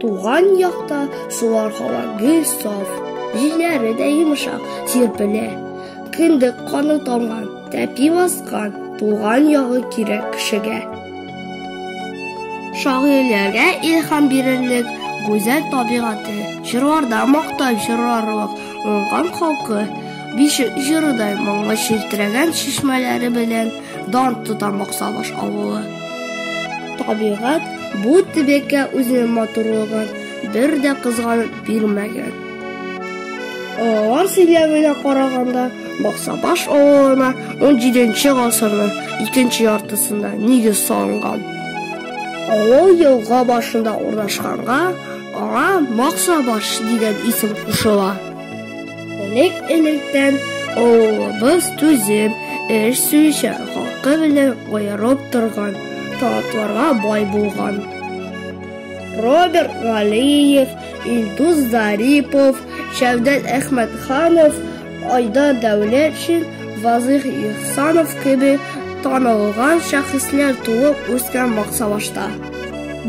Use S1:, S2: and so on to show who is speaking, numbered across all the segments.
S1: Туган якта сулар һава гел саф, җилләре дә йомшак сирпелә. Кендек каны тамган, тәпи баскан, туган ягы кирәк кешегә. Шагыйрьләргә илһам бирерлек гүзәл табигате, җырларда мактап җырларлык уңган халкы, бишек җырыдай моңлы челтерәгән чишмәләре белән дан тота Максабаш авылы. Табигать бу төбәккә үзенең матурлыгын бер дә кызганып бирмәгән. Алар сөйләвенә караганда, Баксабаш авылына 17-нче гасырның икенче яртысында нигез салынган. Авыл елга башында урнашканга, аңа Максабаш дигән исем кушыла. Элек электән авылыбыз түзем, эш сөючән халкы белән аерып торган, талантларга бай булган. Роберт Галиев, Илдус Зарипов, Шәвдәт Әхмәтханов, Айдар Дәүләтшин, Вазыйх Ихсанов кебек танылган шәхесләр туып үскән Максавашта.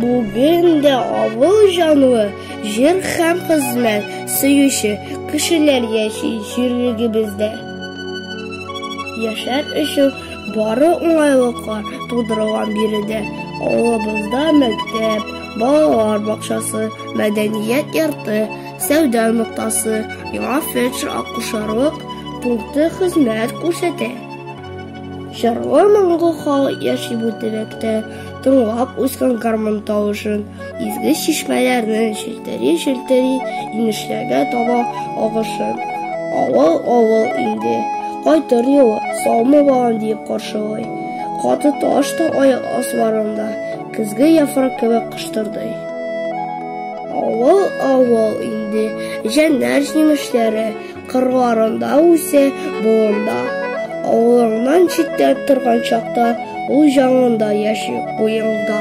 S1: Бүген дә авыл җанлы, Җыр һәм хезмәт сөюче кешеләр яши җирлегебездә. Яшәр өчен бары уңайлыклар тудырылган биредә авылыбызда мәктәп, балалар бакчасы, мәдәният йорты, сәүдә ноктасы, яңа фельдшер-акушерлык пункты хезмәт күрсәтә. Җырлы-моңлы халык яши бу төбәктә. тыңлап үскән гармун тавышын, изге чишмәләрнең челтери-челтери инешләргә таба агышын. Авыл-авыл инде, кайтыр юлы, саумы балам диеп каршылый. Каты таш та аяк асларында, көзге яфрак кебек кыштырдый. Авыл-авыл инде, җәннәр җимешләре, Кырларында үсә, болында. Авылыңнан читтә торган чакта, ул җаныңда яши, уеңда.